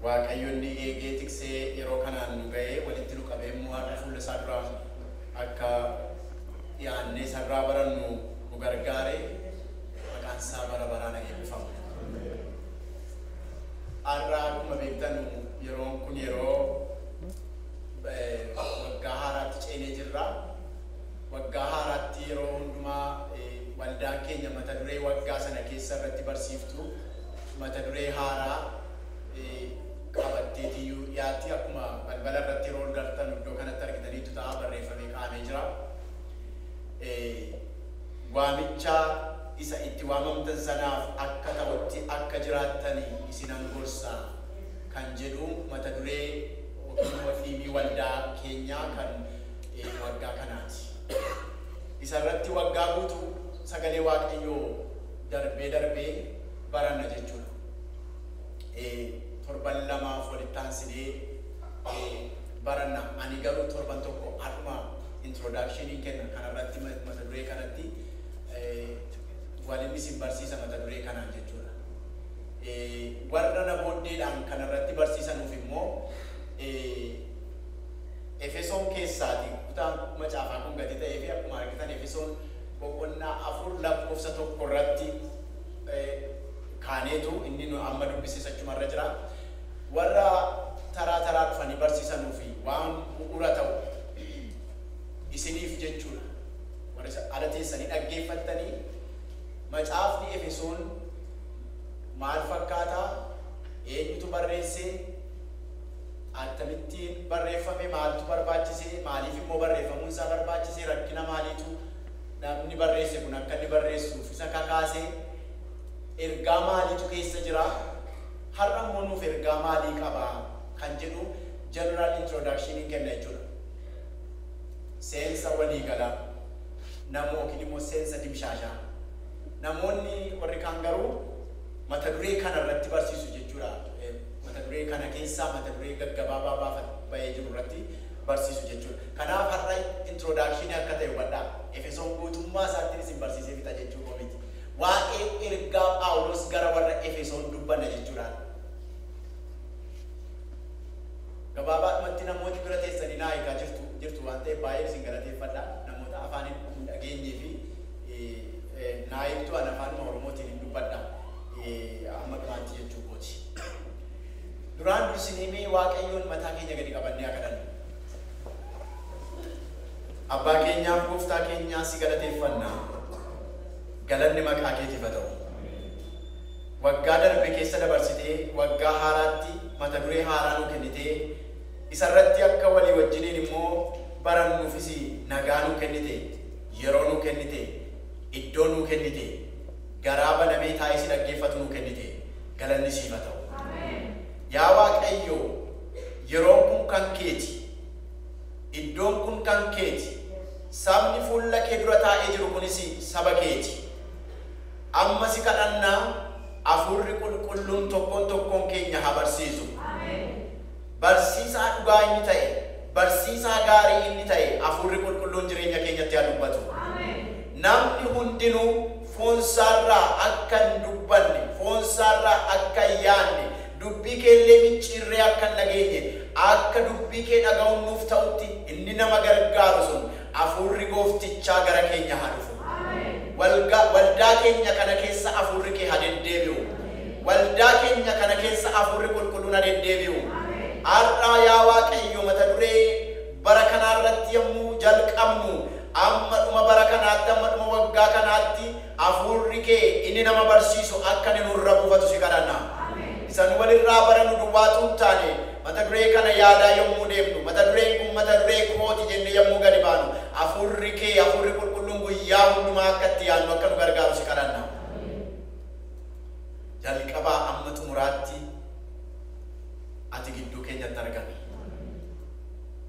Waaqayyoon ni eegee tiksee yeroo kanaan nu ga'ee walitti nu qabee immoo har'a fuula isaa duraan akka dhiyaannee isa irraa barannu nu gargaare maqaan isaa bara baraan haa eebbifamu. Har'a akkuma beektan yeroon kun yeroo waggaa haaraatti ceenee jirra. Waggaa haaraatti yeroo hundumaa waldaan keenya mata duree waggaa sana keessa irratti barsiiftu mata duree haaraa qabatteetiyyuu dhiyaatti. Akkuma balbala irratti yeroo ol gartan iddoo kanatti argitaniittu ta'a barreeffamee kaa'amee jira. Waamicha isa itti waamamtan sanaaf akka ta'utti akka jiraattani isinan gorsa kan jedhu mata duree yookiin immoo dhiimii waldaa keenyaa kan waggaa kanaati. Isa irratti waggaa guutuu sagalee Waaqayyoo darbee darbee baranna jechuudha. Eh, torban lamaaf walitti aansinee eh, baranna. Ani garuu torban tokko har'uma introduction hin kenna kanarratti ma- mata duree kanatti eh, walin isin barsiisa mata duree kanaan jechuudha. Eh, warra na booddeedhaan kanarratti barsiisanuuf immoo eh, Efesoon keessaati kutaan macaafaa kun gadi ta'ee fi akkuma argitan Efesoon boqonnaa afur lakkoofsa tokko irratti kaaneetu inni nu amma dubbises achuma irra jira. Warra taraa taraa dhufanii barsiisanuu fi waan bu'uura ta'u isiniif jechuudha. Warri isa ala teessanii dhaggeeffattanii macaafni Efesoon maal fakkaataa? Eenyutu barreessee? Attamittiin barreeffame? Maaltu barbaachisee? Maaliif immoo barreeffamuun isaa barbaachisee? Rakkina maaliitu? namni barreesse kun akka inni barreessuuf isa kakaase ergaa maaliitu keessa jira? Har'a immoo nuuf ergaa maalii qaba? kan jedhu general introduction hin kenna jechuudha. Seensa waliigalaa namoo yookiin immoo seensa dimshaashaa. Namoonni warri kaan garuu mata duree kana irratti barsiisu jechuudha. Mata duree kana keessaa mata duree gaggabaabaa baafat bahee jiru irratti barsiisu jechuu dha. Kanaaf har'a introdakshinii akka ta'e hubadhaa. Efesoon guutummaa isaattin isin barsiisee fixa jechuu koo miti. Waa'ee ergaa Phaawulos gara warra Efesoon dubbanna jechuu dhaa dha. Gabaabaadhumatti namooti bira teessanii naa eegaa jirtu jirtu waan ta'eef baay'een isin galateeffadha. Namoota afaan hin hin dhageenyee fi eh, naa eegdu an afaanuma Oromootiin hin dubbadha. Eh, Amma dhumaatti jechuu kooti. Duraan dursinee mee Waaqayyoon mataa keenya gadi qabannee haa kadhannu. Abbaa keenyaa fi Gooftaa keenyaa si galateeffanna. Galanni maqaa keetiif haa ta'u. Waggaa darbe keessa dabarsitee waggaa haaraatti mata duree haaraa nuu kennitee isarratti akka walii wajjiniin immoo barannuufis nagaa nuu kennite, yeroo nuu kennite, iddoo nuu kennite. garaa banamee taa'ee si dhaggeeffatu nuu kennite. Galanni siif haa ta'u. Yaa Waaqayyo, yeroon kun kan keeti. Iddoon kun kan keeti. Sabni fuulla kee dura taa'ee jiru kunis saba keeti. Amma si kadhanna, Hafuurri Qulqulluun tokkoon tokkoon keenya haa barsiisu. Barsiisaa dhugaa inni ta'e, barsiisaa gaarii inni ta'e Hafuurri Qulqulluun jireenya keenyatti haa dubbatu. Namni hundinuu foonsaarraa akka hin dubbanne, foonsaarraa akka hin yaanne, dubbii kee illee micciirree akka hin dhageenye, akka dubbii kee dhaga'uun nuuf ta'utti inni nama gargaaru sun, Afuurri Gooftichaa gara keenya haa dhufu. Walga, waldaa keenya kana keessa Afuurri Kee ha deddeebi'u. Waldaa keenya kana keessa Afuurri Qulqulluun ha deddeebi'u. Har'aa yaa Waaqayyo mata duree bara kanaa irratti yommuu jalqabnu, amma dhuma bara kanaatti, amma dhuma waggaa kanaatti, Hafuurri kee inni nama barsiisu akka inni nurra buufatu si kadhanna. Isa nu walirraa barannu duwwaa utuu hin taane, mata duree kana yaadaa yommuu deemnu, mata dureen kun mata duree kooti jennee yommuu gadi baanu, Hafuurri kee, Hafuurri Qulqulluun guyyaa hundumaa akka itti yaannu akka nu gargaaru si kadhanna. Jalqabaa amma xumuraatti Ati gidduu keenyatti argami.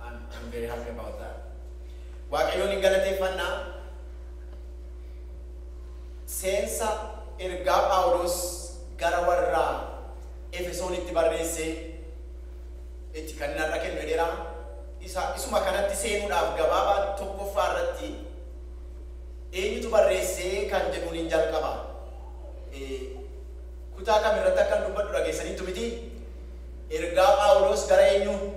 I'm, I'm very happy about that. Waaqayyoon hin galateeffanna. Seensa ergaa Phaawulos gara warra Efesoonitti barreesse itti kan narra kennu jedheera. Isa isuma kanatti seenuudhaaf gabaabaa tokkoffaa irratti eenyutu barreessee kan jedhuun hin jalqaba. Eh, Kutaa kam irratti akkan dubbadhu dhageessaniittu miti? Ergaa Phaawuloos gara eenyuu?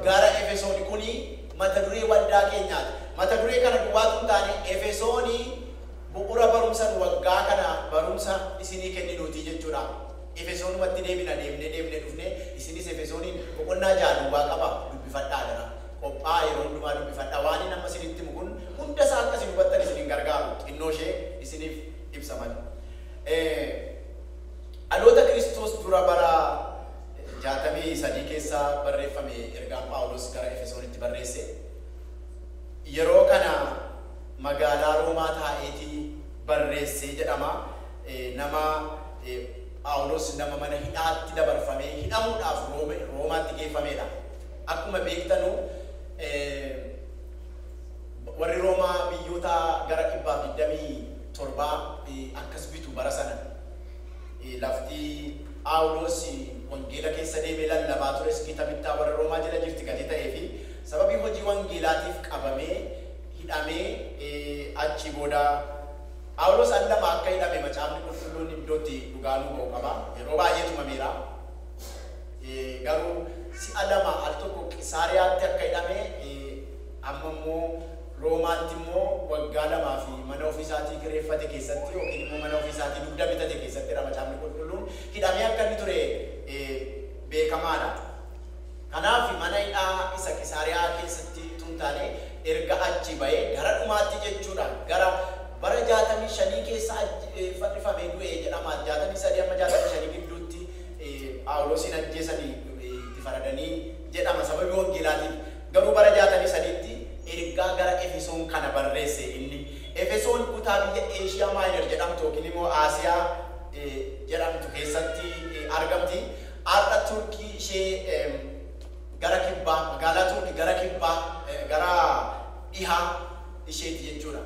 Gara Efesooni. Kuni mata duree waldaa keenyaati. Mata duree kana duwwaa utuu hin taane, Efesooni bu'ura barumsa nu waggaa kana barumsa isinii kenninuuti jechuudha. Efesoonumatti deebina deemnee deemnee dhufnee, isinis Efesooniin boqonnaa 6 duwwaa qaba, dubbifadhaa adaraa. Qophaa'a yeroo hundumaa dubbifadhaa. Waanin amma isinitti himu kun hunda isaa akka isin hubattan isin hin gargaaru, xinnoo ishee isiniif ibsa malee. Dhaloota Kiristoos dura bara 63 keessa barreeffame ergaan Phaawulos gara Efesoonitti barreesse. Yeroo kana magaalaa Roomaa taa'eeti barreesse jedhama. Nama Phaawulos nama mana hidhaatti dabarfamee hidhamuudhaaf Roomaatti geeffameedha. Akkuma beektanu warri Roomaa biyyoota gara 127 akkas bitu bara sana. Lafti Phaawulos wangeela keessa deemee lallabaa tures gita bittaa warra Roomaa jala jirti gatii ta'ee fi sababii hojii wangeelaatiif qabamee, hidhamee, achii booda Phaawulos al lama akka hidhame Macaafni Qulqulluun iddoo itti dhugaa nuu ba'u qaba. Yeroo baay'ee tumameera. Garuu si'a lama al tokko Qisaariyaatti akka hidhame, Amma immoo Roomaatti immoo waggaa lamaa fi mana ofii isaatii kireeffate keessatti yookiin immoo mana ofii isaatii dugda bitate keessatti dha Macaafni Qulqulluun hidhamee akka inni ture beekamaa dha. Kanaaf mana hidhaa isa Qisaariyaa keessatti utuu hin taane erga achii ba'ee gara dhumaatti jechuu dha gara bara 65 keessa fannifamee du'e jedhama 63-65 gidduutti Phaawuloosiin ajjeesanii itti faradanii jedhama sababii wangeelaatiif. Garuu bara 63tti ergaa gara Efesoon kana barreesse inni. Efesoon kutaa biyya Asia Minor jedhamtu yookiin immoo Aasiyaa jedhamtu keessatti argamti. Har'a Turkii ishee gara kibbaa, magaalaa Turki gara kibbaa, gara dhihaa isheeti jechuudha.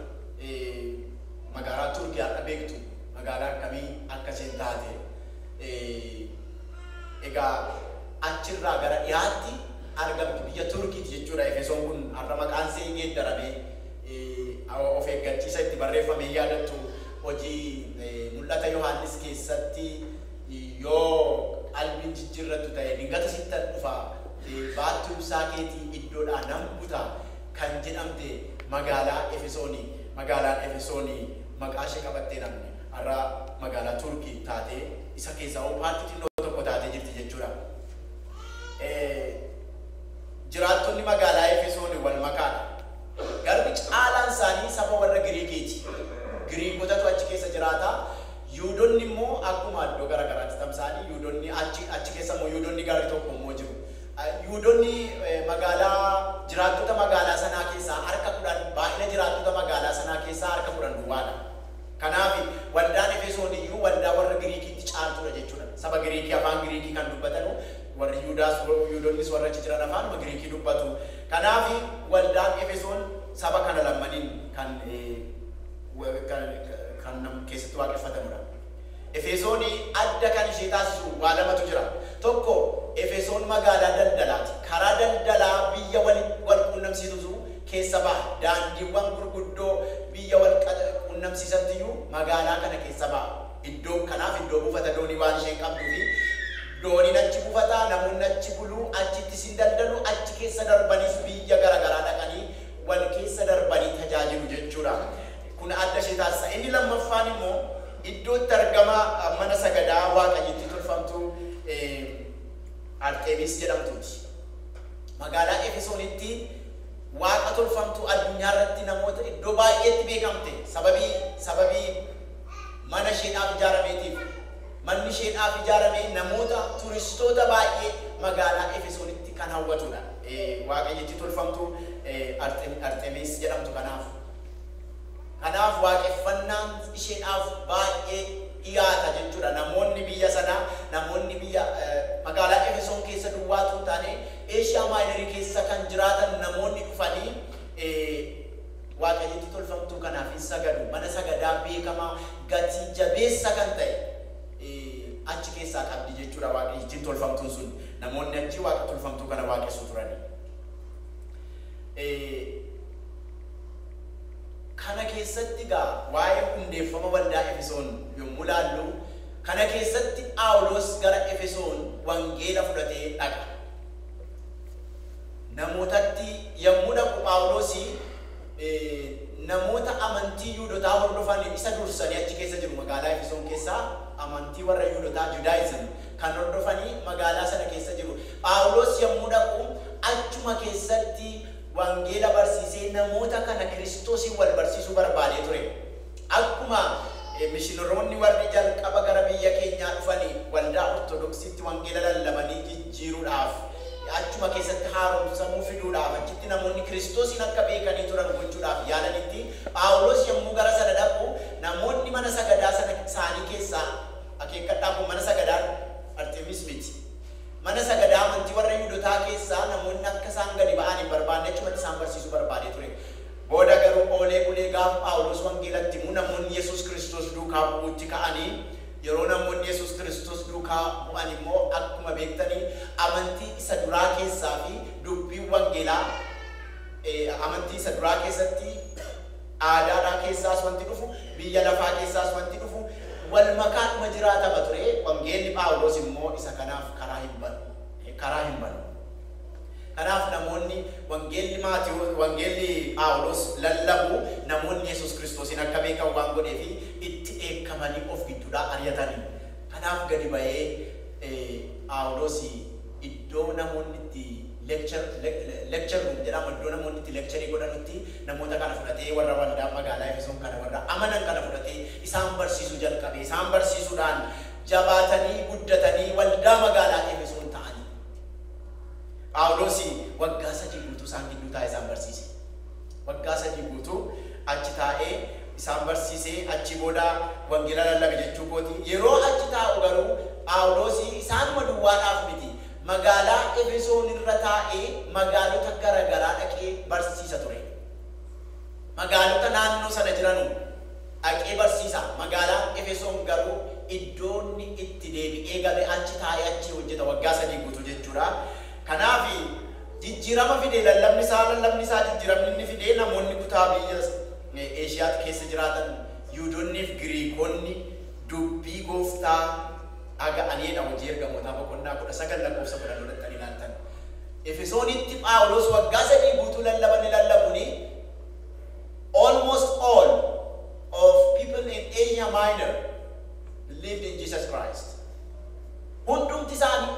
Magaalaa Turki har'a beektu magaalaa akkamii akka isheen taate. Egaa achirraa gara dhihaatti argamtu biyya Turkiiti jechuudha. Efesoon kun har'a maqaansee geeddaramee of eeggachiisa itti barreeffame hin yaadattu. Hojii Mul'ata Yohaannis keessatti yoo qalbiin jijjiirrattu ta'e dingata sittan dhufa, baattuu ibsaa keetii iddoodhaa nan buta kan jedhamte magaalaa Efesooni. Magaalaan Efesooni maqaa ishee qabattee namni har'a magaalaa Turkii taatee isa keessaa hoo paartii xinnoo tokko taatee jirti jechuudha. Jiraattonni magaalaa Efesoon wal makaa dha. Garuu caalaan isaanii saba warra Giriikii ti. Giriikotatu achi keessa jiraata. Yihuudonni immoo akkuma iddoo gara garaatti tamsa'anii Yihuudonni achi achi keessa immoo Yihuudonni garri tokko immoo jiru. Yihuudonni magaalaa jiraattota magaalaa sanaa keessaa harka kudhan baay'ina jiraattota magaalaa sanaa keessaa harka kudhan duwwaa dha. Kanaaf, waldaan Efesoon iyyuu waldaa warra Giriikiitti caaltuu dha jechuu dha. Saba Giriikii afaan Giriikii kan dubbatanu warri Yihudaas, Yihudonnis warri achi jiran afaanuma Giriikii dubbatu. Kanaaf, waldaan Efesoon saba kana lammaniin kan kan keessatti waaqeffatamu dha. Efesoon adda kan ishee taasisu waa lamatu jira. Tokko, Efesoon magaalaa daldalaa ti. Karaa daldalaa biyya walitti wal quunnamsiitutu keessa baha. Daandiiwwan gurguddoo biyya wal quunnamsiisanttiyyuu magaalaa kana keessa baha. Iddoon kanaaf iddoo buufata doonii waan isheen qabduufi dooniin achi buufata, namoonni achi bulu, achittis hin daldalu, achi keessa darbaniis biyya gara garaa dhaqanii wal keessa darbanii tajaajilu jechuudha. Kun adda ishee taasisa. Inni lammaffaan immoo iddoo itti argama mana sagadaa waaqayyittii tolfamtuu Arxemiis jedhamtuuti. Magaalaa Efesoonitti. waaqa tolfamtuu addunyaa irratti namoota iddoo baay'eetti beekamte sababii sababii mana isheedhaaf ijaarameetiif. Manni isheedhaaf ijaarame namoota turistoota baay'ee magaalaa Efesoonitti kan hawwatudha. Waaqayyittii tolfamtuu Arxemiis jedhamtu kanaaf. Kanaaf waaqeffannaan isheedhaaf baay'ee dhiyaata jechuudha. Namoonni biyya sanaa, namoonni biyya magaalaa Efesoon keessa duwwaa utuu hin taane Eeshiyaa Maayinarii keessa kan jiraatan namoonni dhufanii waaqayyittii tolfamtuu kanaaf in sagadu, mana sagadaa beekamaa gatii jabeessa kan ta'e achi keessaa qabdi jechuu dha waaqayyittiin tolfamtuun sun. Namoonni achii waaqa tolfamtuu kana waaqessu turani. Kana keessatti egaa waa'ee hundeeffama waldaa Efesoon yommuu ilaallu, Kana keessatti Phaawulos gara Efesoon wangeela fudhatee dhaqa. Namootatti yommuu dhaqu Phaawulos namoota amantii Yihudotaa hordofan isa dursanii achi keessa jiru. Magaalaa Efesoon keessa amantii warra Yihudotaa, Judaism, kan hordofan magaalaa sana keessa jiru. Phaawulos yommuu dhaqu achuma keessatti wangeela barsiisee namoota kana Kiristosiin wal barsiisuu barbaadee ture. Akkuma mishinaroonni warri jalqaba gara biyya keenyaa dhufani waldaa Ortodoksiitti wangeela lallabanii jijjiiruudhaaf, achuma keessatti haaromsamuu fiduudhaaf, achitti namoonni Kiristoosiin akka beekanii turan gochuudhaaf yaalanitti, Phaawulos yommuu gara sana dhaqu, namoonni mana sagadaa sana isaanii keessaa, akeekkadhaa kun mana sagadaa Arxemiis miti, mana sagadaa amantii warra Yihudotaa keessaa namoonni akka isaan gadi ba'an hin barbaanne achumatti isaan barsiisuu barbaadee ture. Booda garuu oolee bulee gaafa Phaawulos wangeelatti himu namoonni Yesuus Kiristoos duukaa bu'uutti ka'anii yeroo namoonni Yesuus Kiristoos duukaa bu'an immoo akkuma beektani amantii isa duraa keessaa fi dubbiin wangeelaa amantii isa duraa keessatti aadaadhaa keessaas wanti dhufu biyya lafaa keessaas wanti dhufu wal makaadhuma jiraatama ture wangeelli Phaawulos immoo isa kanaaf karaa hin banu karaa hin banu. Kanaaf namoonni wangeelli Maatewos, wangeelli Phaawulos lallabu namoonni Yesus Kristoosiin akka beekan waan godheef itti dheekkamanii of gidduudhaa ari'atani. Kanaaf gadi ba'ee Phaawulos iddoo namoonni itti lecture, lecture room jedhama, iddoo namoonni itti lecture godhanutti namoota kana fudhatee warra waldaa magaalaa Efesoon kana warra amanan kana fudhatee isaan barsiisuu jalqabe. Isaan barsiisuudhaan jabaatanii guddatanii waldaa magaalaa Efesoon ta'ani. Phaawulosi waggaa sadii guutuu isaan gidduu taa'ee isaan barsiise. Waggaa sadii guutuu achi taa'ee isaan barsiise, achii booda wangeela lallabe jechuu kooti. Yeroo achi taa'u garuu Phaawulosi isaanuma duwwaadhaaf miti, magaalaa Efesoon irra taa'ee magaalota gara garaa dhaqee barsiisa ture. Magaalota naannoo sana jiranuu. dhaqee barsiisa, magaalaan Efesoon garuu iddoo inni itti deebi'ee gale achi taa'ee achii hojjeta waggaa sadii guutuu jechuudha. Kanaaf jijjiirama fide lallabni isaa, lallabni isaa jijjiiramni inni fide namoonni kutaa biyya Eeshiyaatti keessa jiraatan Yihuudonnii fi Giriikonni dubbii gooftaa dhaga'aniidha Hojii Ergamootaa boqonnaa 19 lakkoofsa 10 yoo dhaqxanii ilaaltan Efesoonitti Phaawulos waggaa sadii guutuu lallaba inni lallabuun Almost all of people in Asia Minor believed in Jesus Christ. Hundumti isaani,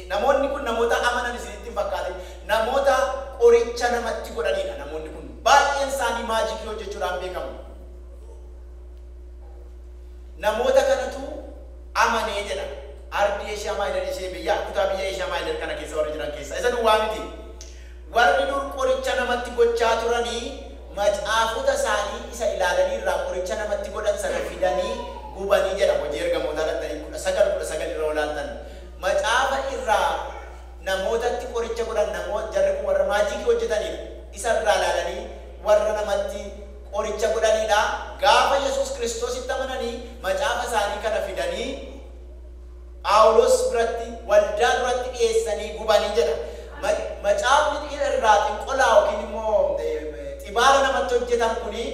namoonni kun namoota amanan isinitti hin fakkaatin. Namoota qoricha namatti godhaniidha namoonni kun. Baay'een isaanii maajikii hojjechuudhaan beekamu. Namoota kanatu amanee jedha. Ardii Asia Minor ishee biyya, kutaa biyya Asia Minor kana keessa warri jiran keessaa isa duwwaa miti. Warri dur qoricha namatti gochaa turani macaafota isaanii isa ilaalanii irraa qoricha namatti godhan sana fidanii gubani jedha Hojii Ergamootaa dhaqxanii 19, 19 irra yoo ilaaltan macaafa irraa namootatti qoricha godhan namo jarri kun warra maajiikii hojjetaniidha. Isa irraa ilaalanii warra namatti qoricha godhaniidha. Gaafa Yesuus Kiristoositti amananii macaafa isaanii kana fidanii. Phaawulos biratti waldaa duratti dhiyeessanii gubani jedha. Ma, macaafni xi, irraa xinqolaa yookiin immoo xibaara namatti hojjetan kuni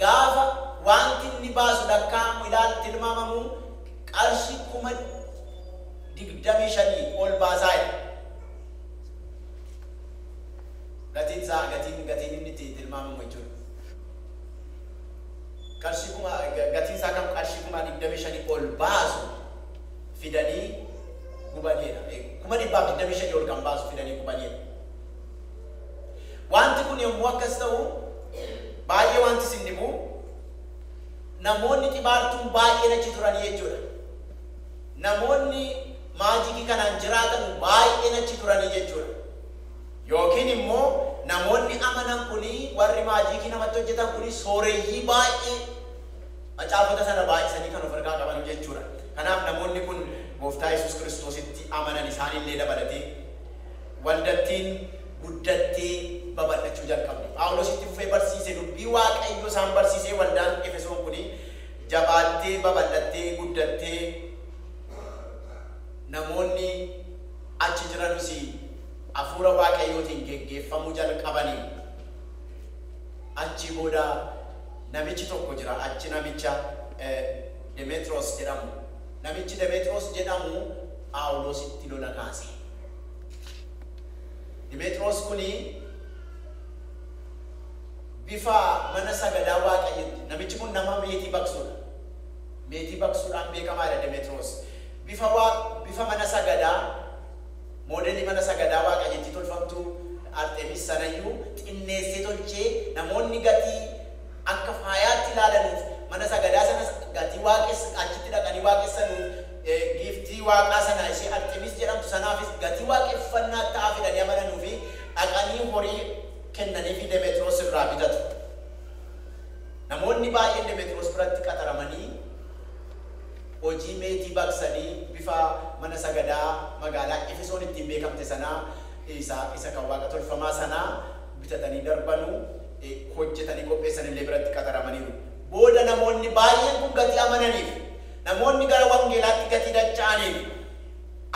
gaafa waanti inni baasu lakkaa'amu ilaal, tilmaamamu qarshii kuma digdamii shanii ol baasaa jedha. Gatiin isaa, gatiin, gatiin inni itti tilmaamamu jechuudha. qarshii kuma, gatiin isaa kan qarshii kuma 25 ol baasu fidanii gubaneedha. Kuma dhibbaaf 25 ol kan baasu fidanii gubaneedha. Waanti kun yommuu akkas ta'u baay'ee waanti isin dhibu namoonni xibaartuun baay'een achi turanii jechuudha. Namoonni maajikii kanaan jiraatanu baay'een achi turanii jechuudha. Yookiin immoo namoonni amanan kun, warri maajiikii namatti hojjetan kun sooreyyii baay'ee macaafota sana baay'isanii kan of harkaa qaban jechuu dha. Kanaaf namoonni kun Gooftaa Yesuus Kiristoositti amanan isaan illee dabalatee, waldattiin guddattee babal'achuu jalqabde. Phaawulos itti fufee barsiise, dubbii Waaqayyoo isaan barsiisee waldaan Efesoon kun jabaattee, babal'attee, guddattee namoonni achi jiranus, Hafuura Waaqayyootiin geggeeffamuu jalqabanii achii booda namichi tokko jira achi namicha Demeexiroos jedhamu. Namichi Demeexiroos jedhamu Phaawuloositti lola kaase. Demeexiroos kuni bifa mana sagadaa Waaqayyotti namichi kun nama meetii baqsuudha. Meetii baqsuudhaan beekamaadha Demeexiroos. Bifa, bifa mana sagadaa Moodelli mana sagadaa waaqayyittii tolfamtuu Arxemiis sanayyuu xinneessee tolchee namoonni gatii akka faayaatti ilaalanuuf mana sagadaa sanas gatii waaqess achitti dhaqanii waaqessanuuf giiftii waaqaa sanaa ishee Arxemiis jedhamtu sanaafis gatii waaqeffannaa ta'aa fidanii amananuufi dhaqanii horii kennaniifi Demexiroos irraa bitatu. Namoonni baay'een Demexiroos biratti qaxaramanii. Hojii meetii baqsanii bifa mana sagadaa magaalaa Efesoon ittiin beekamte sanaa isa isa kan waaqa tolfamaa sanaa bitatanii darbanu, hojjetanii qopheessan illee biratti qaxaramaniiru. Booda namoonni baay'een kun gatii amananiif, namoonni gara wangeelaatti gatii dacha'aniif,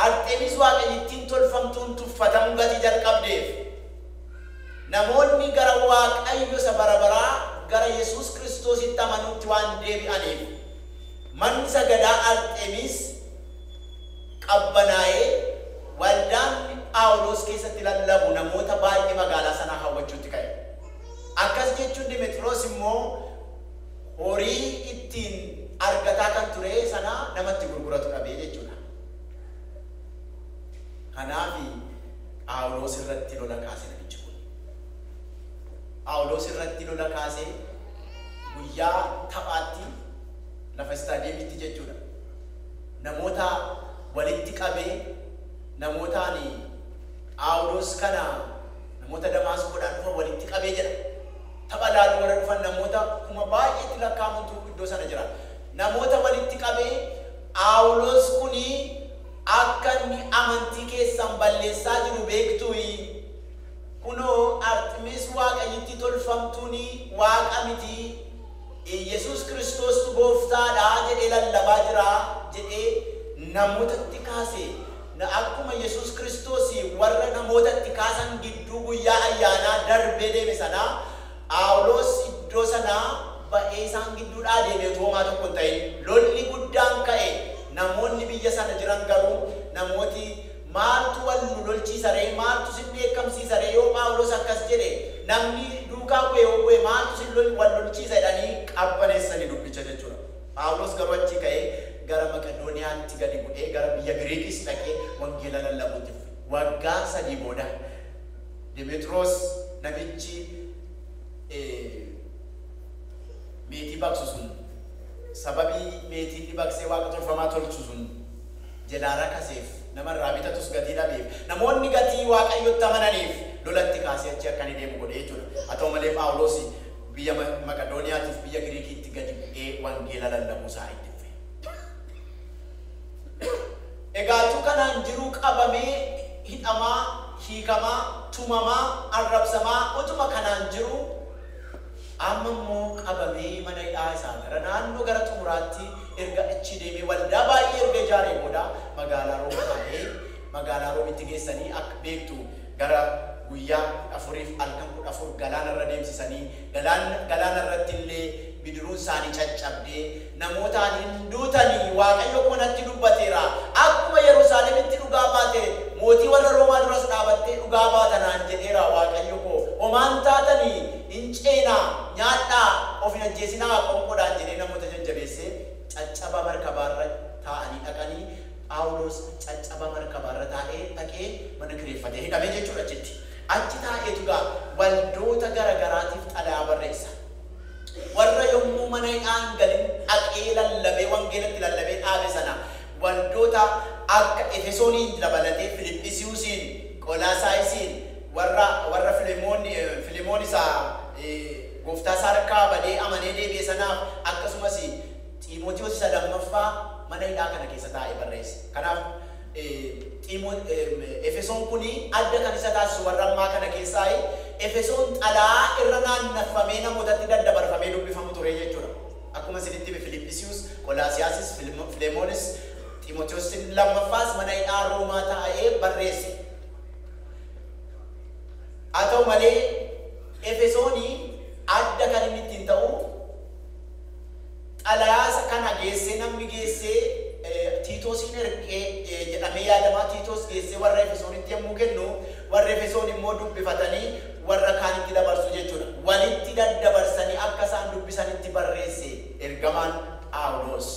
Arxemis waaqayyittiin tolfamtuun tuffatamuu gatii jalqabdeef, namoonni gara Waaqayyo isa bara baraa, gara Yesuus Kiristoositti amanuutti waan deebi'aniif, Manni sagadaa Arxemiis qabbanaa'ee, waldaan Phaawulos keessatti lallabu namoota baay'ee magaalaa sanaa hawwachuutti ka'e. Akkas jechuun Demexiroos immoo horii ittiin argataa kan ture sana nama itti gurguratu dhabe jechuu dha. Kanaaf Phaawulos irratti lola kaase namichi kun. Phaawulos irratti lola kaasee guyyaa taphaatti lafa istaadiyeemiitti jechuudha, namoota walitti qabee, namoota ani Phaawulos kana namoota Damaasqoodhaa dhufan walitti qabe jedha. Tapha ilaaluu warra dhufan namoota kuma baay'eetti lakkaa'amantu iddoo sana jira. Namoota walitti qabee, Phaawulos kun akka inni amantii keessan balleessaa jiru beektuuyi? Kunoo, Arximis waaqayyittii tolfamtuun waaqa miti. Iyyesuus Kiristoostu Gooftaa dha jedhee lallabaa jira jedhee namootatti kaase, akkuma Yesuus Kiristoos warra namoota itti kaasan gidduu guyyaa ayyaanaa darbee deeme sana, Phaawuloos iddoo sanaa ba'ee isaan gidduudhaa deeme utuu homaa tokko hin ta'in. Lolli guddaan ka'e, namoonni biyya sana jiran garuu namooti, Maaltu wal nu lolchiisa ree? Maaltu sin dheekkamsiisa ree? Yoo Phaawulos akkas jedhe, namni duukaa bu'e yoo bu'e maaltu sin lol, wal lolchiisa jedhanii qabbaneessani dubbicha jechuu dha. Phaawulos garuu achii ka'ee gara Maqedooniyaatti gadi bu'ee gara biyya Giriikis dhaqee wangeela lallabuutti fufe. Waggaa sadii booda Demeexiroos namichi meetii baqsu sun, sababii meetii inni baqsee waaqa tolfamaa tolchu sun, jalaa rakaseef, nama irraa bitatus gatii dhabeef, namoonni gatii Waaqayyotti amananiif lolatti kaasee achii akka inni deemu godhe jechuu dha. Haa ta'u malee, Phaawulos biyya Maqedooniyaati fi biyya Giriikiitti gadi bu'ee wangeela lallabuu isaa itti fufe. Egaa utuu kanaan jiruu qabamee, hidhamaa, hiikamaa, tumamaa, arrabsamaa utuma kanaan jiruu, Amma immoo qabamee mana hidhaa isaa gara naannoo gara xumuraatti erga achii deemee waldaa baay'ee erga ijaaree booda magaalaa Room taa'ee magaalaa Roomitti geessanii akka beektu gara guyyaa 14f halkan 14 galaana irra deemsisanii galaanna galaana irratti illee bidiruun isaanii caccabdee Namoota ani, Hin duutan, Waaqayyo koo natti dubbateera, akkuma Yerusaalemitti dhugaa baate, mootii warra Roomaa duras dhaabattee dhugaa baata naan jedheera, Waaqayyo koo, Homaa hin taatan, in ceenaa, nyaadhaa, of hin ajjeesinaa, qoonqoodhaan jedhee namoota jajjabeessee caccaba markabaa irra taa'anii dhaqani, Phaawulos caccaba markabaa irra taa'ee dhaqee mana kireeffatee hidhame jechuudha achitti. Achi taa'eetu egaa waldoota gara garaatiif xalayaa barreessa. Warra yommuu mana hidhaa hin galin dhaqee lallabee wangeela itti lallabee dhaabe sana waldoota akka Efesooniin dabalatee Filiphisiusiin, Qolaasaayisiin, warra warra Filemoon Filemoon isa gooftaa isaa harkaa badee amanee deebi'e sanaaf akkasumas Xiimotewos isa lammaffaa mana hidhaa kana keessa taa'ee barreesse. Kanaaf Ximo, Efesoon kun adda kan isa taasisu warra ammaa kana keessaayi. Efesoon xalayaa irra naannaffamee namootatti daddabarfamee dubbifamu ture jechuu dha. Akkuma isinitti hime Filiphisius, Qolaasiyaasis, Filmo, Filemoonis, Ximotewos inni lammaffaas mana hidhaa Roomaa taa'ee barreesse. Haa ta'u malee Efesooni adda kan inni ittiin ta'u, Xalayaa isa kana geessee namni geessee Tiitoosiin erge jedhamee yaadama. Tiitoos geessee warra Efesoonitti yommuu kennu, warri Efesoon immoo dubbifatanii warra kaanitti dabarsu jechuu dha. Walitti daddabarsanii akka isaan dubbisanitti barreesse ergamaan Phaawuloos.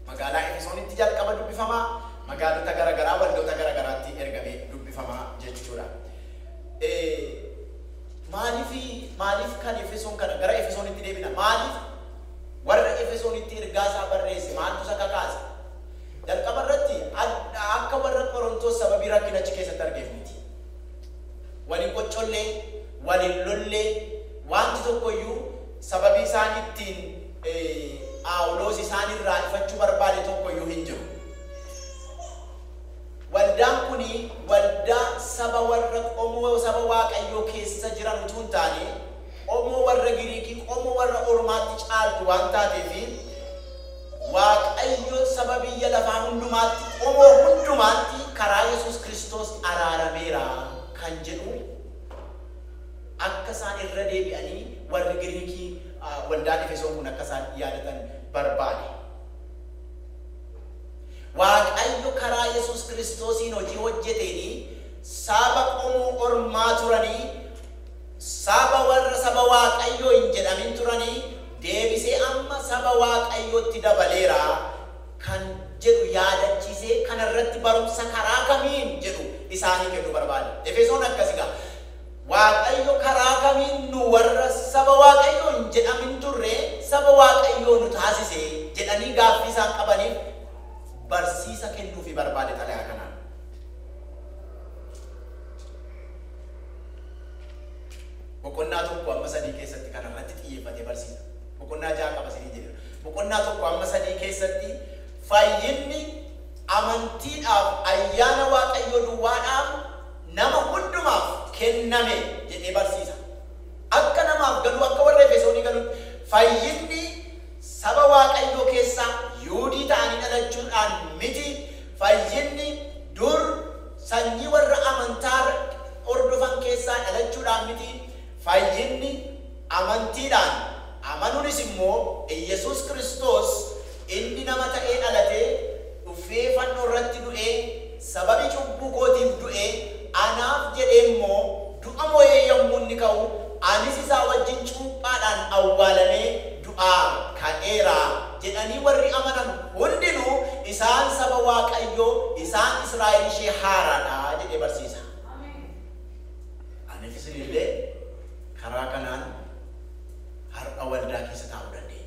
Magaalaa Efesoonitti jalqaba dubbifama, magaalota gara garaa, waldoota gara garaatti ergamee dubbifama jechuu dha. Maaliif, maaliif kan Efesoon kana? Gara Efesoonitti deebina. Maaliif warra Efesoonitti ergaa isaa barreesse? Maaltu isa kakaase? Jalqaba irratti, a akka warra Qorontos sababii rakkina achi keessatti argeef miti. Wal hin qoccolle, wal hin lolle, wanti tokko iyyuu sababii isaan ittiin Phaawulos isaan irraa ifachuu barbaade tokko iyyuu hin jiru. Waldaan kun waldaa saba warra qomoo saba Waaqayyoo keessa jiran utuu hin taane, qomoo warra Giriikii, qomoo warra ormaatti caaltu waan taateef, Waaqayyo saba biyya lafaa hundumaatti, qomoo hundumaatti karaa Yesuus Kiristoos araarameera kan jedhu akka isaan irra deebi'anii warri Giriikii waldaan Efesoon kun akka isaan yaadatan barbaade. Waaqayyo karaa Yesuus Kiristoosiin hojii hojjeteeni saaba qomoo ormaa turani saaba warra saba Waaqayyoo hin jedhamin turani deebisee amma saba Waaqayyootti dabaleera kan jedhu yaadachiisee kana irratti barumsa karaa kamiin jedhu isaanii kennu barbaade. Efesoon akkas egaa. Waaqayyo karaa kamiin nu warra saba Waaqayyoo hin jedhamin turre saba Waaqayyoo nu taasise? jedhanii gaaffii isaan qabaniif barsiisa kennuufii barbaade xalayaa kanaan. Boqonnaa 1-3 keessatti kana irratti xiyyeeffatee barsiisa. Boqonnaa 6 qaba isinii jedheera. Boqonnaa 1-3 keessatti fayyinni amantiidhaaf ayyaana Waaqayyoo duwwaadhaaf nama hundumaaf kenname jedhee barsiisa. Akka namaaf galuu, akka warra Efesoonii galutti, fayyinni saba Waaqayyoo keessaa Yuudii ta'anii dhalachuu dhaan miti, fayyinni dur sanyii warra amantaa hordofan keessaa dhalachuu dhaan miti, fayyinni amantii dhaan, amanuunis immoo Iyyasuus Kiristoos, Inni nama ta'ee dhalatee, dhuffee fannoo irratti du'ee, sababii cubbuu kootiif du'e, anaaf jedhee immoo du'a mo'ee yommuu inni ka'u, anis isaa wajjin cuuphaadhaan awwaalamee du'aa ka'eera jedhanii warri amanan hundinuu, isaan saba Waaqayyoo, isaan Israa'el ishee haaraa dha jedhee barsiisa. Aniif isin illee karaa kanaan har'a waldaa keessa taa'uu dandeenya.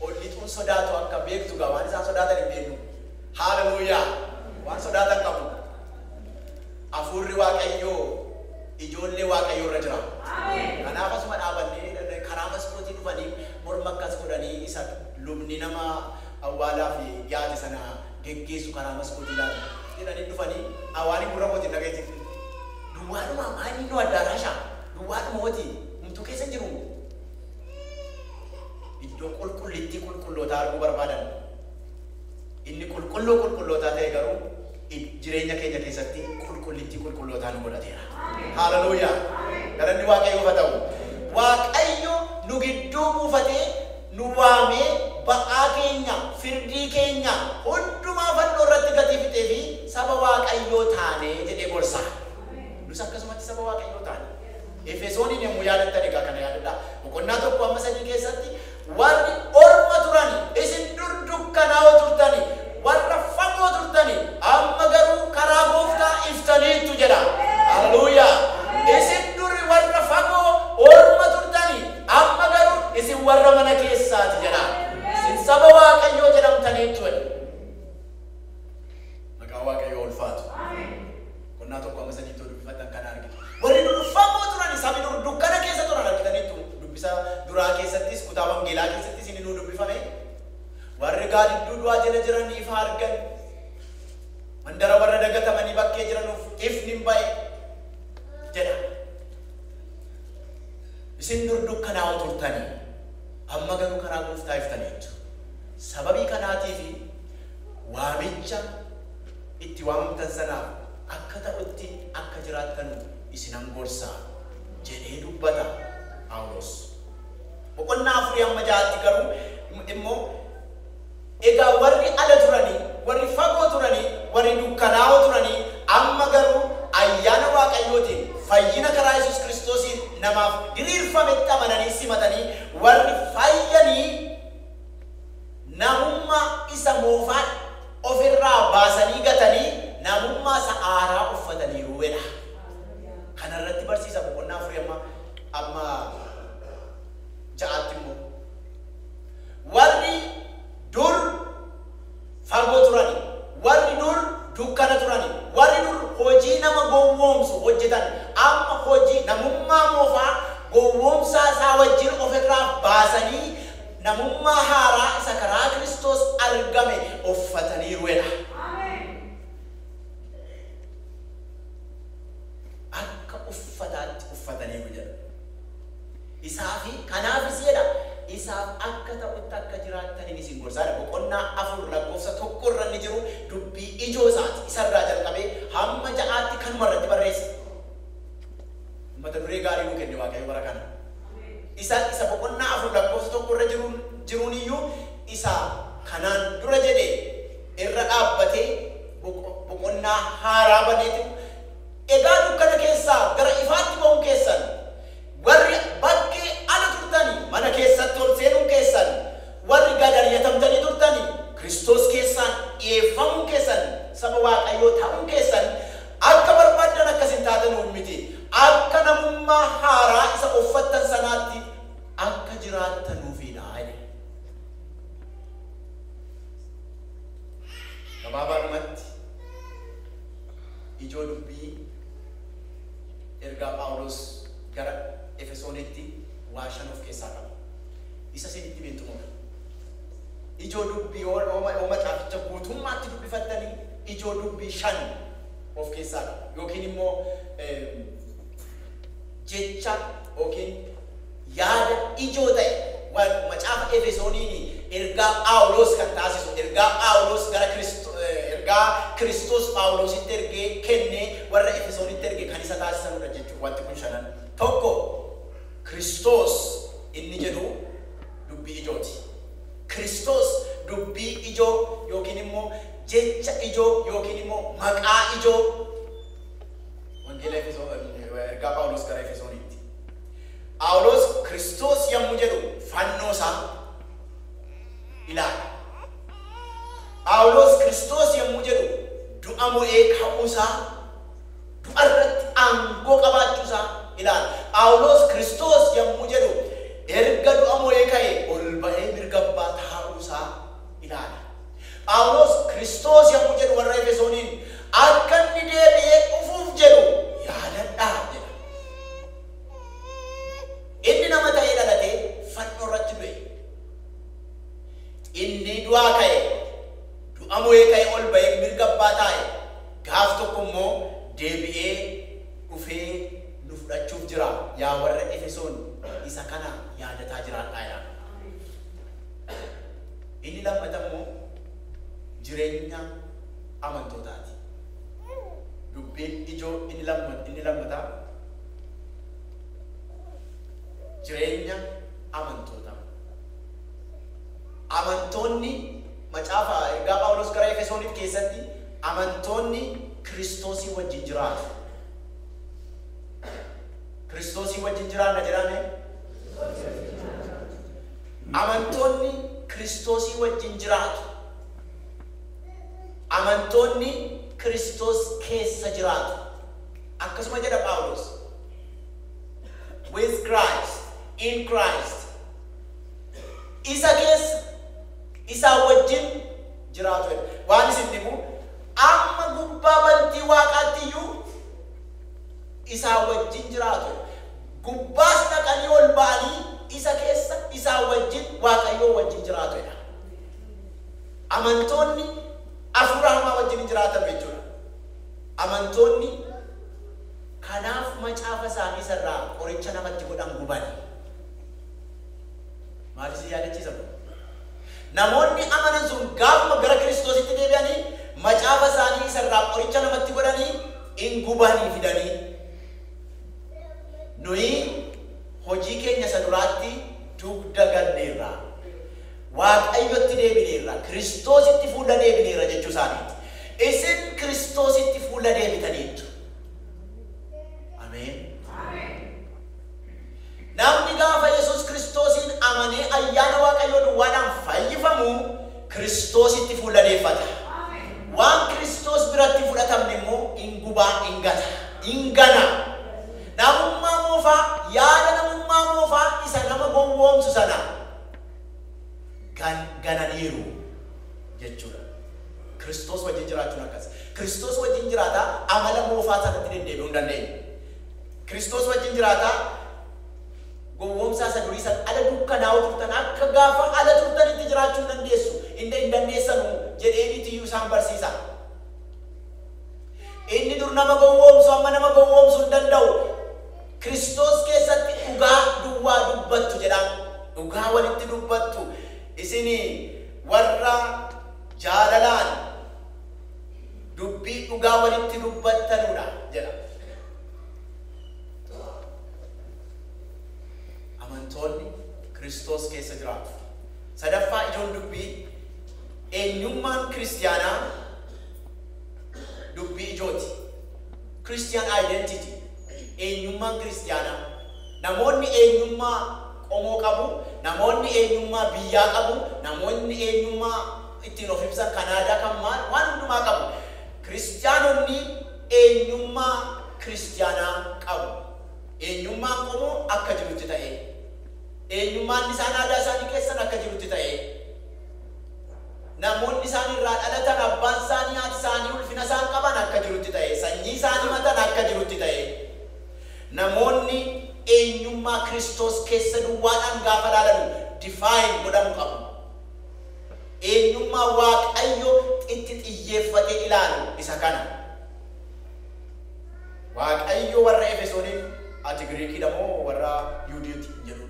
Ol lixuun sodaatu akka beektu gaa waan isaan sodaatan hin beeknu. Hallelujah! Waan sodaatan qabu. Hafuurri Waaqayyoo ijoollee Waaqayyoo irra jira. Kanaaf asuma dhaabannee karaa maskootii dhufanii morma akkas godhanii isa lubni nama awwaalaaf dhiyaate sana geggeessu karaa maskootii ilaalu jedhanii dhufanii waan hin gurra kootiin dhaga'e jirti. Duwwaadhuma maa inni innoo addaaraasha duwwaadhuma hoti humtuu keessa hin jiru. iddoo qulqullittii qulqullootaa arguu barbaadan. Inni Qulqulluu Qulqullootaa ta'e garuu id, jireenya keenya keessatti qulqullittii qulqullootaa nu godhateera. Haaleluyyaa! Galanni Waaqayyoof haa ta'u. Waaqayyo nu gidduu buufatee, nu waamee, ba'aa keenya, firdii keenya hundumaa fannoo irratti gatii fixee fi saba Waaqayyoo taane jedhee gorsa. Nus akkasumatti saba Waaqayyoo taane. Efesooniin yommuu yaadattan egaa kana yaadadhaa, boqonnaa 1 amma 3 keessatti warri orma turani, isin dur dukkanaa'oo turtani, warra fagoo turtani, amma garuu karaa gooftaa iftaniittu jedha. Haleluuyaa! Isin duri warra fagoo orma turtani, amma garuu isin warra mana keessaati jedha. Isin saba Waaqayyoo jedhamtaniittu jedha. Maqaan Waaqayyoo ulfaatu. Boqonnaa 1-3 too dubbifattan kana argitu. Warri dur fagoo turani, sabi dur dukkana keessa turan argitaniittu. Dubbisa duraa keessattis, kutaa wangeelaa keessattis inni nuu dubbifame, Warri gaadidduu du'aa jala jiran ifa argan, mandara warra dagatamanii bakkee jiranuuf ifni in ba'e jedha. Isin dur dukkanaa'oo turtani, amma garuu karaa gooftaa iftaniittu. Sababii kanaatiifi waamicha itti waamamtan sanaaf akka ta'utti akka jiraattanu isinan gorsa jedhee dubbata Phaawulos. Boqonnaa 4-6tti garuu immoo Egaa warri ala turanii, warri fagoo turanii, warri dukkanaa'oo turanii amma garuu ayyaana Waaqayyootiin fayyina karaa Yesuus Kiristoosiin namaaf diriirfametti amananii simatanii warri fayyanii namummaa isa moofaa dha. of irraa baasanii gatanii namummaa isa haaraa uffataniiru jedha. Kana irratti barsiisa boqonnaa afurii amma amma ja'aatti immoo warri dur fagoo turani, warri dur dukkana turani, warri dur hojii nama gowwoomsu hojjetan amma hojii namummaa moofaa gowwoomsaa isaa wajjin of irraa baasanii namummaa haaraa isa karaa Kiristoos argame uffataniiru jedha. Akka uffataatti uffataniiru jedha. Isaa fi kanaafis jedha isaaf akka ta'utti akka jiraattanin isin gorsa jedha. Boqonnaa 4 lakkoofsa 1 irra inni jiru dubbii ijoo isaati. Isa irraa jalqabee hamma 6tti kanuma irratti barreessa. Mata duree gaarii nuu kenne Waaqayyo bara kana. Isa Isa boqonnaa 4 lakkoofsa 1 irra jiruun jiruun iyyuu isa kanaan dura jedhe irra dhaabbatee boqo boqonnaa haaraa baneetu Egaa dukkana keessaa gara ifaatti ba'uun keessan, warri bakkee ala turtani mana keessatti ol seenuun keessan, warri gad ari'atamtanii turtani Kiristoos keessaan dhi'eeffamuun keessan, saba Waaqayyoo ta'uun keessan, Akka barbaaddan akkas hin taatanuun miti, akka namummaa haaraa isa uffattan sanaatti akka jiraattanuufi dha jedhe. Gabaabaadhumatti, ijoo dubbii ergaa Phaawulos gara Efesoonitti waa shan of keessaa qaba. Isa isinitti himeen xumura. Ijoo dubbii yoo macaaficha guutummaatti dubbifattanii ijoo dubbii shan of keessaa qaba yookiin immoo jecha yookiin yaada ijoo ta'e macaafa Efesooniin ergaa Phaawulos kan taasisu ergaa Phaawulos gara ergaa Kiristoos Phaawulositti ergee kennee warra Efesoonitti erge kan isa taasisanudha jechuudha wanti kun shanan tokko Kiristoos inni jedhu dubbii ijooti. Kiristoos dubbii ijoo yookiin immoo jecha ijoo yookiin immoo maqaa ijoo Wangeela Efesoon, Ergaa Phaawulos gara Efesoonitti. Phaawulos Kiristoos yommuu jedhu fannoo isaa ilaala. Phaawulos Kiristoos yommuu jedhu du'a mo'ee ka'uu isaa, du'a irratti aangoo qabaachuu isaa ilaala. Phaawulos Kiristoos yommuu jedhu erga du'a mo'ee ka'e ol ba'ee mirga abbaa taa'uu isaa ilaala. Phaawulos Kiristoos yommuu jedhu warra Efesooniin, Akka inni deebi'ee dhufuuf jedhu yaadadhaa jedha. Inni nama ta'ee dhalatee fannoo irratti du'e. Inni du'aa ka'e, du'a mo'ee ka'ee ol ba'ee mirga Abbaa taa'e, gaaf tokko immoo deebi'ee dhufee nu fudhachuuf jira. Yaa warra Efesoon isa kana yaadataa jiraadhaa jedha. Inni lammata immoo jirenya amantootaati. Dubbiin ijoo inni lammataa jireenya amantootaa. Amantoonni macaafa ergaa Phaawulos gara Efesooniif keessatti amantoonni Kiristoosii wajjin jiraatu. Kiristoosii wajjin jiraanna jedhaame. Amantoonni Kiristoosii wajjin jiraatu. Amantoonni Kiristoos keessa jiraatu. Akkasuma jedha Phaawuloos. With Christ, in Christ. Isa keessa, isaa wajjin jiraatu jedha. Waan isin dhibu, amma gubbaa bantii waaqaatti iyyuu isaa wajjin jiraatu jedha. Gubbaas dhaqanii ol ba'anii isa keessa isaa wajjin Waaqayyoo wajjin jiraatu jedha. Amantoonni afuura hamaa wajjin hin jiraatanu jechuudha. Amantoonni kanaaf macaafa isaanii isa irraa qoricha namatti godhan gubani. Maal isin yaadachiisa kun? Namoonni amanan sun gaafuma gara Kiristoositti deebi'anii macaafa isaanii isa irraa qoricha namatti godhanii in gubanii fidanii. Nuyi hojii keenya isa duraatti dugda ganneerra. Waaqayyotti deebineerra. Kiristoositti fuula deebineerra jechuu isaaniiti. Isin Kiristoositti fuula deebitaniittu. Ameen. Namni gaafa Yesuus Kiristoosiin amanee ayyaana Waaqayyoo duwwaadhaan fayyifamu, Kiristoositti fuula deeffata. Waan Kiristoos biratti hin fudhatamne immoo in guba, in gata, in gana. Namummaa moofaa, yaada namummaa moofaa isa nama gowwoomsu sana gan, gananiiru jechuu dha. Kiristoos wajjin jiraachuun akkasi. Kiristoos wajjin jiraataa amala moofaa sanatti deddeebi'uu hin dandeenye. Kiristoos wajjin jiraataa gowwoomsaa isa durii sana ala dukkanaa'oo turtan, akka gaafa ala turtanitti jiraachuu hin dandeessu, hin hin dandeessanu jedheeniiti iyyuu isaan barsiisa. Inni dur nama gowwoomsu amma nama gowwoomsu hin danda'u. Kiristoos keessatti dhugaa duwwaa dubbattu jedha. Dhugaa walitti dubbattu. Isin warra jaalalaan dubbii dhugaa walitti dubbattanudha jedha. Amantoonni Kiristoos keessa jiraatu. Sadaffaa ijoon dubbii eenyummaan kiristiyaanaa dubbii ijooti. Christian identity eenyummaan kiristiyaanaa. Namoonni eenyummaa qomoo qabu, namoonni eenyummaa biyyaa qabu, namoonni eenyummaa ittiin of ibsan Kanaadaa kan maal waan hundumaa qabu. Kiristiyaanonni eenyummaa Kiristiyaanaa qabu. Eenyummaan qomoo akka jirutti ta'ee, eenyummaan isaan aadaa isaanii keessan akka jirutti ta'ee, namoonni isaan irraa dhalatan, abbaan isaanii, haati isaanii ulfina isaan qaban akka jirutti ta'ee, sanyii isaan himatan akka jirutti ta'ee, namoonni eenyummaa Kiristoos keessa duwwaadhaan gaafa ilaalanu define godhamu qabu. Eenyummaa Waaqayyo itti xiyyeeffatee ilaalu isa kana. Waaqayyo warra Efesooniin, Ati Giriikii dha moo warra Yihudiiti? hin jedhu.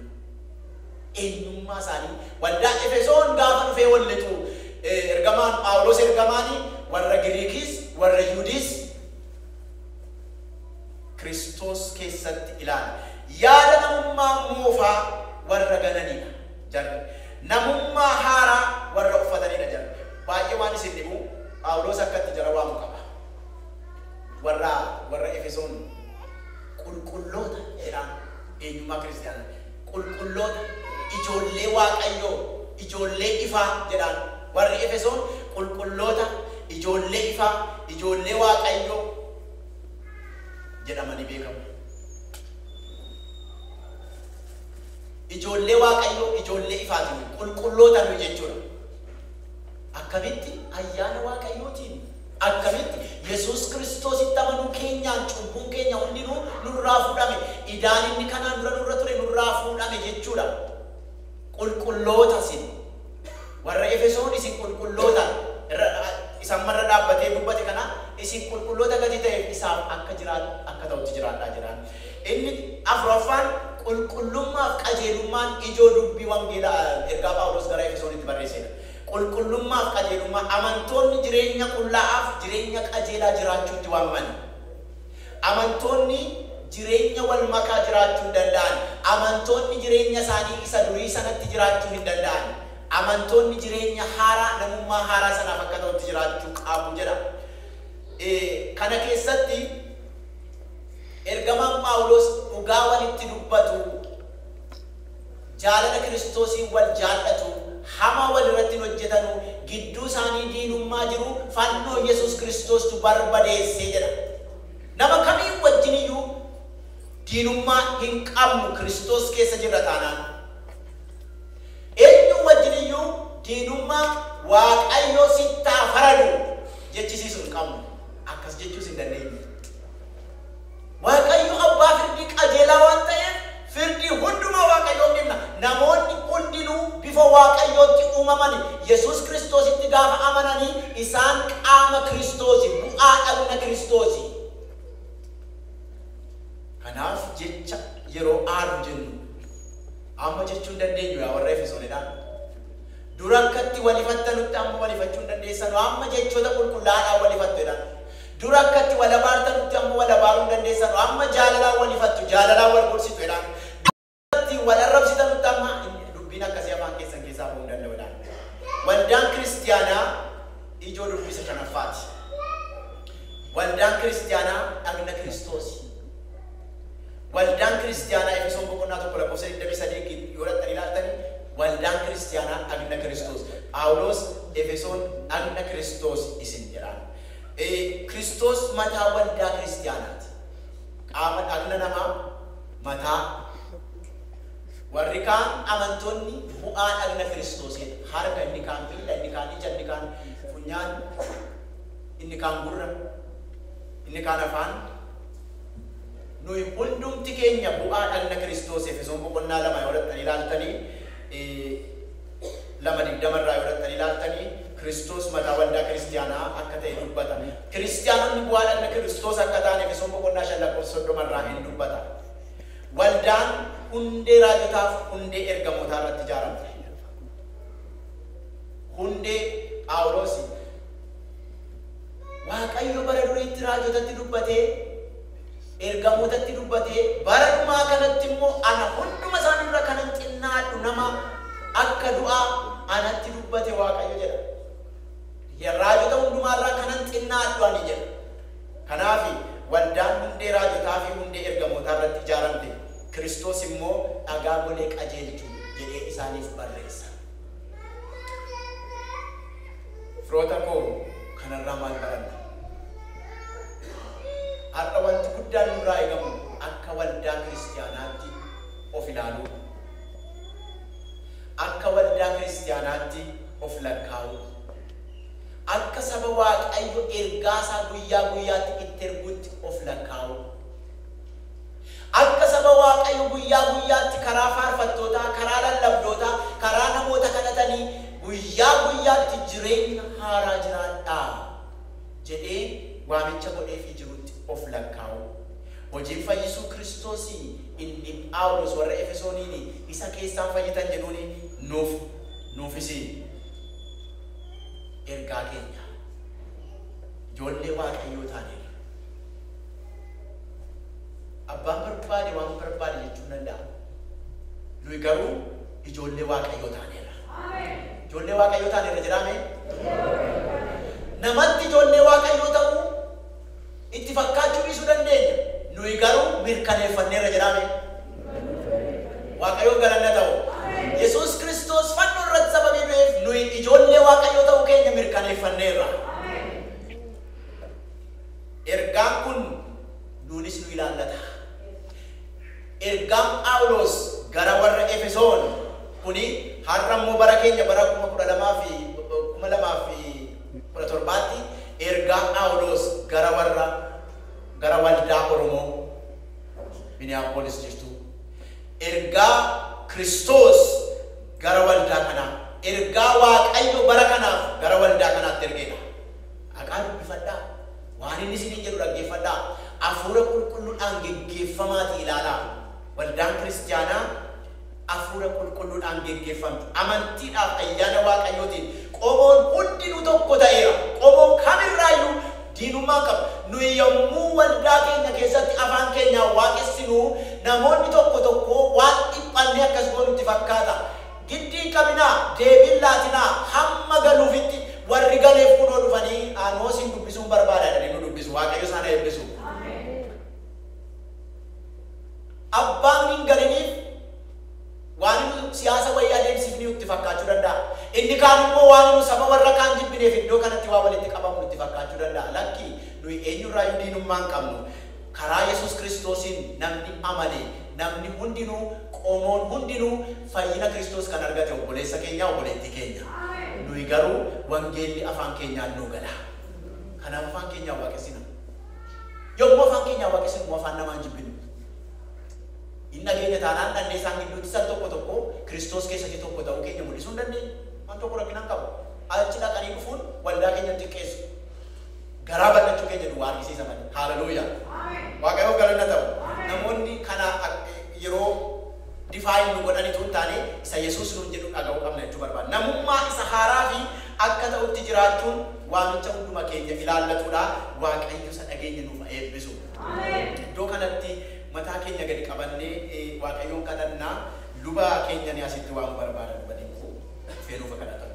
Eenyummaa isaanii waldaa Efesoon gaafa dhufee wal lixu ergamaan Phaawulos ergamaan warra Giriikiis warra Yihudiis Kiristoos keessatti ilaala. Yaada namummaa moofaa warra gananii dha. Jarri. namummaa haaraa warra uffatanii dha. Jarri. baay'ee waan isin dhibu, Phaawulos akka itti jara waamu qaba. Warra, warra Efesoon qulqulloota jedhaan, eenyummaa Kiristiyaana. Qulqulloota, ijoollee Waaqayyoo, ijoollee ifaa jedhaan. Warri Efesoon qulqulloota, ijoollee ifaa, ijoollee Waaqayyoo jedhamanii beekamu. Ijoollee Waaqayyoo, ijoollee ifaati nuyi, qulqulloota nuyi jechuudha. Akkamitti? Ayyaana Waaqayyootiin. Akkamitti? Yesuus Kiristoositti amanuu keenyaan cubbuun keenya hundinuu nurraa fuudhame. Idaan inni kanaan dura nurra ture nurraa fuudhame jechuudha. Qulqulloota isin. Warra Efesoon isin qulqulloota irra isa amma irra dhaabbatee dubbate kana isin qulqulloota gatii ta'eef isaaf akka jiraatu akka ta'utti jiraadhaa jedhaan. Inni afuraffaan qulqullummaa fi qajeelummaan ijoo dubbii wangeela ergaa Phaawuloos gara Efesoonitti barreessee dha. Qulqullummaa fi qajeelummaa, amantoonni jireenya qullaa'aa fi jireenya qajeelaa jiraachuutti waamaman. Amantoonni jireenya wal makaa jiraachuu hin danda'an. Amantoonni jireenya isaanii isa durii sanatti jiraachuu hin danda'an. Amantoonni jireenya haaraa, namummaa haaraa sanaaf akka ta'utti jiraachuu qabu jedha. Kana keessatti. Ergamaan Phaawulos dhugaa walitti dubbatu, jaalala Kiristoosiin wal jaallatu, hamaa wal irratti hin hojjetanu, gidduu isaanii diinummaa jiru fannoo Yesuus Kiristoostu barbadeesse jedha. Nama kamii wajjin iyyuu diinummaa hin qabnu Kiristoos keessa jirra taanaan. Eenyuu wajjin iyyuu diinummaa Waaqayyo sitti haa faradu jechisiisu hin qabnu. Akkas jechuus hin dandeenyu. Waaqayyo abbaa firdii qajeelaa waan ta'eef, firdii hundumaa Waaqayyoof dhifna. Namoonni hundinuu bifa Waaqayyootti uumamani. Yesuus Kiristoositti gaafa amanani isaan qaama Kiristoosi, bu'aa dhagna Kiristoosi. Kanaaf jecha yeroo aadu jennu amma jechuu hin dandeenyu yaa warra Efesoonidha. Dura akkatti wal hifattanutti amma wal hifachuu hin dandeessanu, amma jechoota qulqullaa'aadhaan wal hifattu jedhaan. Dur akka itti wal abaartanutti amma wal abaaruu hin dandeessanu, amma jaalalaan wal hifattu, jaalalaan wal gorsitu jedhaan. Dur akka itti wal arrabsitanutti amma dubbiin akkasii afaan keessan keessaa ba'uu hin danda'u jedhaan. Waldaan Kiristiyaanaa ijoo dubbii isa shanaffaa ti. Waldaan Kiristiyaanaa dhagna Kiristoosi. Waldaan Kiristiyaanaa Efesoon boqonnaa 1 lakkoofsa 23 yoo dhaqxanii ilaaltanii waldaan Kiristiyaanaa dhagna Kiristoos. Phaawulos Efesoon dhagna Kiristoos isin jedhaan. Ee, Kiristoos mataa waldaa kiristiyaanaati. Qaama dhagna namaa, mataa. Warri kaan amantoonni bu'aa dhagna Kiristoosidha. Harka, inni kaan miila, inni kaan ija, inni kaan funyaan, inni kaan gurra, inni kaan afaan. Nuyi hundumti keenya bu'aa dhagna Kiristoos Efesoon boqonnaa lama yoo dhaqxanii ilaaltanii 2, 20 irraa yoo dhaqxanii ilaaltanii Kiristoos mataa waldaa kiristiyaanaa akka ta'e dubbata. Kiristiyaanonni bu'aa dhagna Kiristoos akka ta'an Efesoon boqonnaa 5 lakkoofsa 30 irraa in dubbata. Waldaan hundee raajotaaf hundee ergamootaa irratti ijaaramte. Hundee Phaawulosi. Waaqayyo bara duriitti raajotatti dubbatee ergamootatti dubbatee, Bara dhumaa kanatti immoo ana hunduma isaanii irra kanan xinnaadhu nama akka du'a anatti dubbate Waaqayyo jedha. Ye, Raajota hundumaa irra kanan xinnaadhu ani jedha. Kanaafi, waldaan hundee raajotaa fi hundee ergamootaa irratti ijaaramte, Kiristoos immoo dhagaa golee qajeelchu jedhee isaaniif barreessa. Firoota koo, kanarraa maal baranna? Har'a wanti guddaan nurraa eegamu akka waldaa Kiristiyaanaatti of ilaaluudha. Akka waldaa Kiristiyaanaatti of lakkaa'uudha. Akka saba Waaqayyo ergaasaa guyyaa guyyaatti itti erguutti of lakkaa'uudha. Akka saba Waaqayyo guyyaa guyyaatti karaa faarfattootaa, karaa lallabdootaa, karaa namoota kadhatanii guyyaa guyyaatti jireenya haaraa jiraadhaa. jedhee waamicha godheefii jirutti of lakkaa'uu. Hojiin fayyisuu Kiristoosii inni Phaawulos warra Efesooniin isa keessaan fayyitan jedhuun nuuf, nuufis ergaa keenya. Ijoollee Waaqayyoo taaneerra. Abbaan barbaade waan barbaade jechuun danda'a. Nuyi garuu ijoollee Waaqayyoo taaneerra. Ijoollee Waaqayyoo taane irra jiraa mee? Namatti ijoollee Waaqayyoo ta'uu itti fakkaachuu dhiisuu dandeenya. Nuyi garuu mirkaneeffannee irra jiraa mee? Waaqayyoof galanna ta'u. Yesuus Kiristoos fannoo irratti sababii du'eef nuyi ijoollee Waaqayyoo ta'uu keenya mirkaneeffanneerra. Ergaan kun nuunis nu ilaallata. Ergaan Phaawulos gara warra Efesoon kuni har'a immoo bara keenya bara 2017tti ergaa Phaawulos gara warra gara waldaa Oromoo Minneapolis jirtuu, ergaa Kiristoos gara waldaa kanaa, ergaa Waaqayyo bara kanaaf gara waldaa kanaatti ergedha. Dhaqaa dubbifadhaa. Waan inni isiniin jedhu dhaggeeffadhaa, Hafuura Qulqulluudhaan geggeeffamaatii ilaalaa. Waldaan Kristiyaanaa Hafuura Qulqulluudhaan geggeeffamti. Amantiidhaaf ayyaana Waaqayyootiin qomoon hundinuu tokko ta'eera. Qomoon kam irraa iyyuu diinummaa hin qabu. Nuyi yommuu waldaa keenya keessatti afaan keenyaan waaqessinu, namoonni tokko tokko waan dhiphannee akkas goonu itti fakkaata. Giddi hin qabinaa, deebii hin laatinaa, hamma galuufitti, warri galeef kunoo dhufanii, anoo isin dubbisuun barbaada jedhanii nu dubbisu. Waaqayyo isaan haa eebbisu. Abbaan hin galiniif waan nu siyaasa wayii adeemsiifniyu itti fakkaachuu danda'a. Inni kaan immoo waan nu saba warra kaan jibbineef iddoo kanatti waa walitti qabamnu itti fakkaachuu danda'a. Lakki, nuyi eenyurraayyuu diinummaa hin qabnu. Karaa Yesuus Kiristoosiin namni amane, namni hundinuu, qomoon hundinuu fayyina Kiristoos kan argate obboleessa keenya, obboleettii keenya. Nuyi garuu wangeelli afaan keenyaan nuu gala. Kanaaf afaan keenyaan waaqessina. Yommuu afaan keenyaan waaqessinu immoo afaan namaa hin jibbinu. Hin dhageenya taanaan dhannee isaan gidduuttis al tokko tokko Kiristoos keessatti tokko ta'uu keenya mul'isuu hin dandeenyu. Waan tokko rakkina hin qabu. Achi dhaqanii dhufuun waldaa keenya hin xiqqeessu. Garaa bal'achuu kee jedhu waa argisiisa malee. Hallelujah! Waaqayyoof galanni haa ta'u. Namoonni kana yeroo define nu godhan utuu hin taane isa Yesuus nuun jedhu dhaga'uu qabna jechuu barbaada. Namummaa isa haaraa fi akka ta'utti jiraachuun waamicha hunduma keenya ilaallatu dha. Waaqayyo isa dhageenye nuuf haa eebbisu. Iddoo kanatti mataa keenya gadi qabannee Waaqayyoon kadhanna. Luba keenya ani asitti waamuu barbaada luba dinquu. Dhufee nuuf haa kadhatamu.